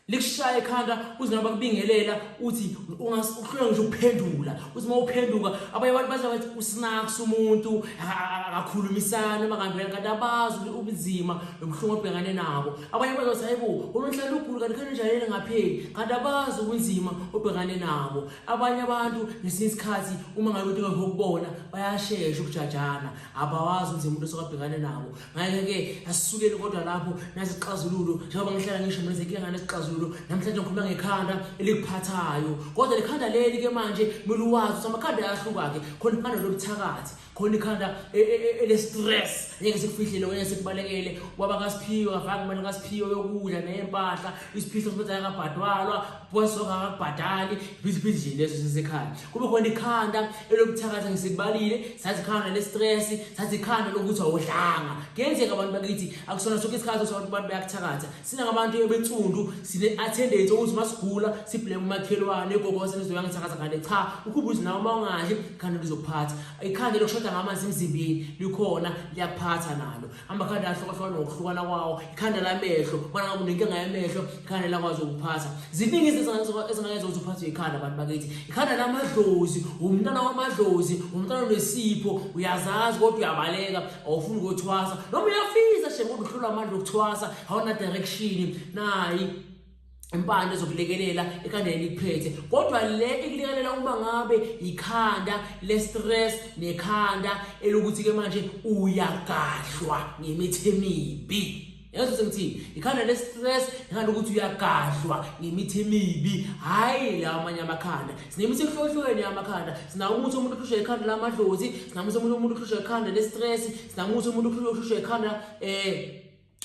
likushaya ekhanda uze noma bakubingelela uthi ungahlulwa ngisho ukuphendula uthi uma uphenduka abanye abantu bathi bathi usinaks umuntu akakhulumisani uma kanti kanti abazi ubunzima nobuhlungu obhekane nabo abanye abantu bathi hayibo unonhlala ugulu kanti khona njalele ngapheli kanti abazi ubunzima obhekane nabo abanye abantu ngesinye isikhathi uma ngabe uthi ngokubona bayashesha ukujajana abawazi ubunzima umuntu osokabhekane nabo ngakho-ke asisukeni kodwa lapho nasixazululo njengoba ngihlala ngisho mina senkinga nganesixazululo namhlanje ngikhuluma ngekhanda elikuphathayo kodwa lekhanda leli ke manje kumele uwazi ukuthi amakhanda ayahluka-ke khona ikhanda lobuthakathi khona ikhanda e, e, e, ele-stress ngeke sikufihlele ngeke sikubalekele ubaba kasiphiwe ngafaka imali kasiphiwe yokudla neyempahla isiphihlo sibethi ayakabhadwalwa kwasoka kakubhadali ibhizibizi nje leso sesekhaya kube khona ikhanda elokuthakatha ngisikubalile sathi ikhanda le-stress sathi ikhanda lokuthi awudlanga kuyenzeka abantu bakithi akusona sonke isikhathi sokuthi abantu bayakuthakatha sinangabantu ebensundu sine-attendance okuthi uma sigula sibleme umakhelwane gogose lizoya ngithakatha ngale cha ukhubuzi nawe uma ungadli ikhanda lizokuphatha ikhanda lokushoda ngamanzi emzimbeni likhona liyakuphatha nalo amakhanda ahlukahlukana ngokuhlukana kwawo ikhanda lamehlo ubona ngabe unenkinga yamehlo ikhanda lakwazi ukuphatha ziningi izinto ezingayenza ukuthi uphathwe ikhanda abantu bakithi ikhanda lamadlozi umntana wamadlozi umntana onesipho uyazazi kodwa uyabaleka awufuni ukuthwasa noma uyafisa shem kodwa uhlula amandla okuthwasa awuna direction nayi impande zokulekelela ekhanda elikuphethe kodwa le ikulekelela uma ngabe ikhanda le-stress nekhanda elokuthi-ke manje uyagadlwa ngemithi emibi yazi ukuthi ngithini ikhanda le-stress ikhanda ukuthi uyagadlwa ngemithi emibi hhayi la amanye amakhanda sinemithi ehlukahlukene yamakhanda sinawo umuthi omuntu ohlushwa ikhanda lamadlozi sinamuthi omunye umuntu ohlushwa ikhanda le-stress sinamuthi umuntu ohlushwa ikhanda um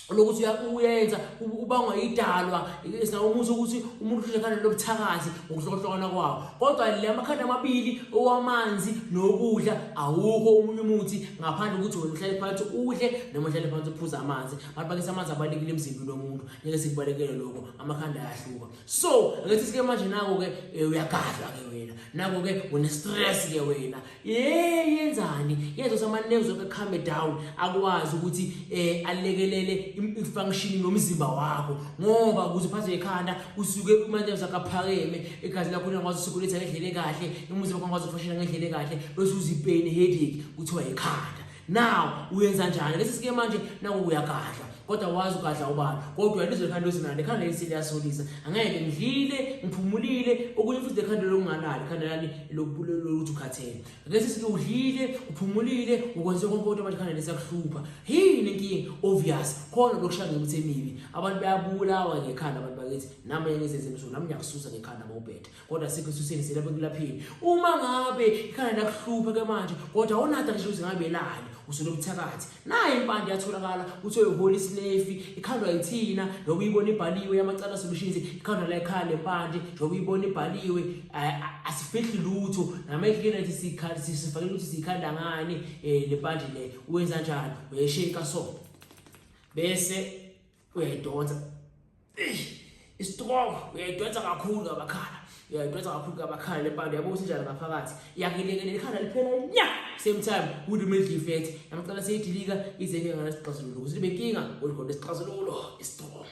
lokuthi uyenza ubangwa idalwa sinawo umuthi ukuthi umuntu uhlekana lobuthakathi ngokuhlokohlokana kwawo kodwa le amakhanda amabili owamanzi nokudla awukho omunye umuthi ngaphandle ukuthi wena uhlale phansi udle noma uhlale phansi uphuze amanzi abantu bakisa amanzi abalekile emzimbini womuntu ngeke sikubalekele lokho amakhanda ayahluka so ngethi sike manje nako-ke eh, uyagadla-ke wena nako-ke une-stress-ke wena Hey yenzani yenza sama nerves oke calm down akwazi ukuthi eh alekelele ifunction nomzimba wakho ngoba kuze phaze ekhanda usuke uma nerves akaphakeme egazi lakho lingakwazi ukusukuletha ngendlela kahle umzimba wakho ungakwazi ukufushela ngendlela kahle bese uzipeni headache kuthiwa ekhanda now uyenza njani lesi sike manje naku uyagadla kodwa wazi ugadla ubani kodwa ilizwe likhanda lozinande khanda leli seliyasolisa angeke ngidlile ngiphumulile okunye futhi lekhanda lokungalali khanda lami lokuthi ukhathele ngesi sike udlile uphumulile ukwenze konke kodwa manje khanda lesakuhlupha yini inkinga obvious khona lokushaya ngemithi emibi abantu bayabulawa ngekhanda abantu bakithi nami ngizenze emsulu nami ngiyakususa ngekhanda mawubhethe kodwa sikho esuseni selapha ekulapheni uma ngabe ikhanda lakuhluphe ke manje kodwa awunada ngisho ukuthi ngabe elani usulo buthakathi naye impande yatholakala kuthiwa ihola isinefi ikhandwa yithina noma uyibona ibhaliwe yamacala solutions ikhandwa la ekhaya lempande njengoba uyibona ibhaliwe asifihli lutho namehlikeni ethi sikhali sifakele ukuthi sikhanda ngani eh, le mpande le uwenza njani uyesheka so bese uyayidonsa istroke uyayidonsa kakhulu ngabakhala uyayidonsa kakhulu ngabakhala lempande yabo ukuthi njalo ngaphakathi yakilekelela ikhala liphela nya same time with middle effect namcela seyidilika ize ke ngana sixazululo ukuthi libe kinga kodwa sixazululo istroke